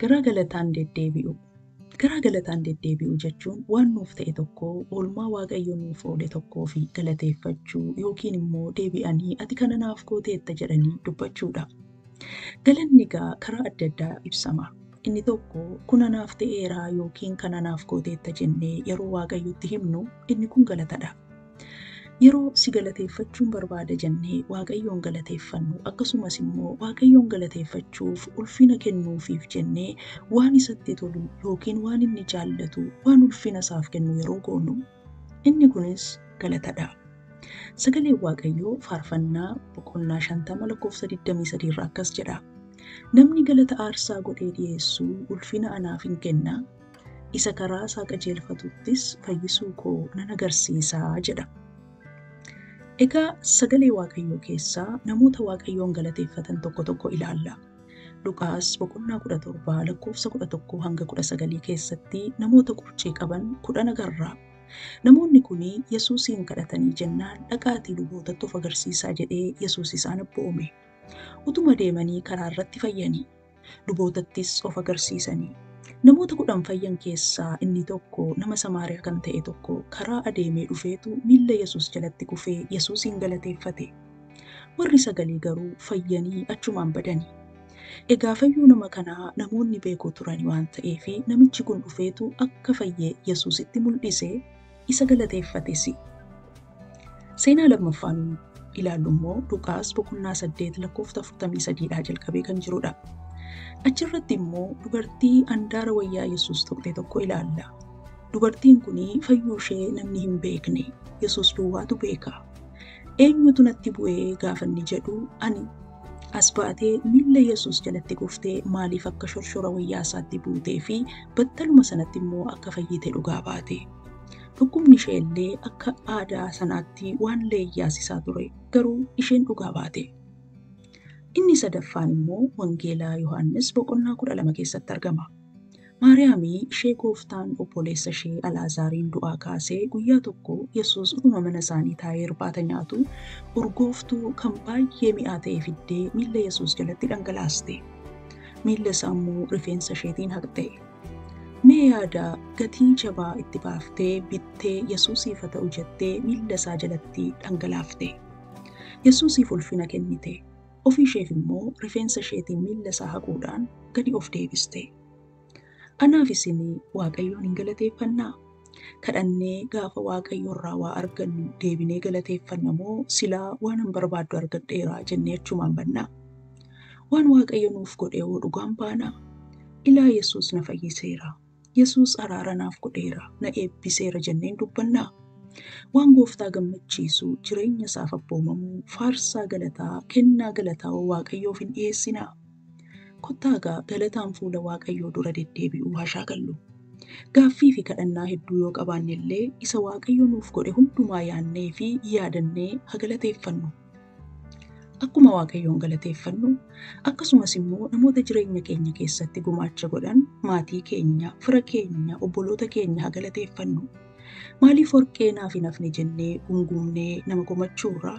Garaa galataan deddeebi'uu. Garaa galataan deddeebi'uu jechuun waan nuuf ta'e tokko, oolmaa Waaqayyo nuuf oole tokkoof galateeffachuu yookiin immoo deebi'anii ati kana naaf gooteetta jedhanii dubbachuudha. Galanni egaa karaa adda addaa ibsama. Inni tokko kun anaaf ta'eera yookiin kana naaf gooteetta jennee yeroo Waaqayyotti himnu inni kun galatadha. Yeroo si galateeffachuun barbaada jennee Waaqayyoon galateeffannu, akkasumas immoo Waaqayyoon galateeffachuuf ulfina kennuufiif jennee waan isatti tolu yookiin waan inni jaallatu waan ulfina isaaf kennu yeroo goonu, inni kunis galatadha. Sagaleen Waaqayyoo faarfannaa boqonnaa 50 lakkoofsa 23 irraa akkas jedha. Namni galata aarsaa godhee dhiyeessu ulfina anaaf hin kenna, isa karaa isaa qajeelfatuttis fayyisuu koo nan agarsiisa jedha. Egaa sagalee Waaqayyoo keessaa namoota Waaqayyoon galateeffatan tokko tokko ilaalla. Luqaas boqonnaa 17 lakkoofsa 11 hanga 19 keessatti namoota qurcii qaban kudhan agarra. Namoonni kun Yesuusiin kadhatanii jennaan dhaqaatii lubootattuuf agarsiisaa jedhee Yesuus isaan abboome. Utuma deemanii karaa irratti fayyanii. lubootattis of agarsiisanii. Namoota kudhan fayyan keessaa inni tokko nama Samaariyaa kan ta'e tokko karaa adeemee dhufeetu miilla Yesuus jalatti kufee Yesuusiin galateeffate. Warri sagalii garuu fayyanii achumaan badani. Egaa fayyuu nama kanaa namoonni beeku turani waan ta'eefi namichi kun dhufeetu akka fayye Yesuusitti mul'ise. isa galateeffate si. Seenaa lammaffaan ilaallu immoo Luqaas boqonnaa 8 lakkoofta 43 dhaa jalqabee kan jirudha. Achirratti immoo dubartii andaara wayyaa Yesuus tuqxe tokko ilaalla. Dubartiin kun fayyuu ishee namni hin beekne Yesuus duwwaatu beeka. Eenyutu natti bu'ee gaafanni jedhu ani as baatee miilla Yesuus jalatti kuftee maaliif akka shorshora wayyaa isaatti buutee fi battaluma sanatti immoo akka fayyite dhugaa baate. Dhukkubni ishee illee akka aadaa sanaatti waan leeyyaasisaa ture garuu isheen dhugaa baate. Inni sadaffaan immoo Wangeelaa Yohaannis boqonnaa kudha lama keessatti argama. Maariyaami ishee Gooftaan obboleessa ishee Alaazaariin du'aa kaasee guyyaa tokko Yesuus utuma mana isaanii taa'ee irbaata nyaatu urgooftuu kan baay'ee mi'aa ta'e fiddee miilla Yesuus jalatti dhangalaaste. Miilla isaa immoo rifeensa isheetiin haqxe. Mee yaada gatii jabaa itti baaftee bittee Yesuusiif haa ta'u jettee miilla isaa jalatti dhangalaafte. Yesuusiif ulfina kennite. Ofii isheef immoo rifeensa isheetiin miilla isaa haquudhaan gadi of deebiste. Anaaf isin Waaqayyoon hin galateeffannaa? Kadhannee gaafa Waaqayyo irraa waa argannu deebinee galateeffanna moo silaa waanan barbaaddu argadheera jennee achumaan bannaa? Waan Waaqayyo nuuf godhe hoo dhugaan baanaa? Ilaa Yesuus na fayyiseera, Yesuus araara naaf godheera, na eebbiseera jenneen dubbannaa? Waan gooftaa gammachiisu jireenya isaaf abboomamuu, faarsaa galataa, kennaa galataa hoo Waaqayyoof hin dhiyeessinaa? Kottaa gaa galataan fuula Waaqayyoo dura deddeebi'uu haa shaakallu. Gaaffii fi kadhannaa hedduu yoo qabaanne illee isa Waaqayyo nuuf godhe hundumaa yaannee fi yaadannee haa galateeffannu. Akkuma Waaqayyoon galateeffannu akkasumas immoo namoota jireenya keenya keessatti gumaacha godhan maatii keenya, fira keenya, obboloota keenya haa galateeffannu. Maaliif warqee naaf hin hafne jennee gumgumnee nama komachuurraa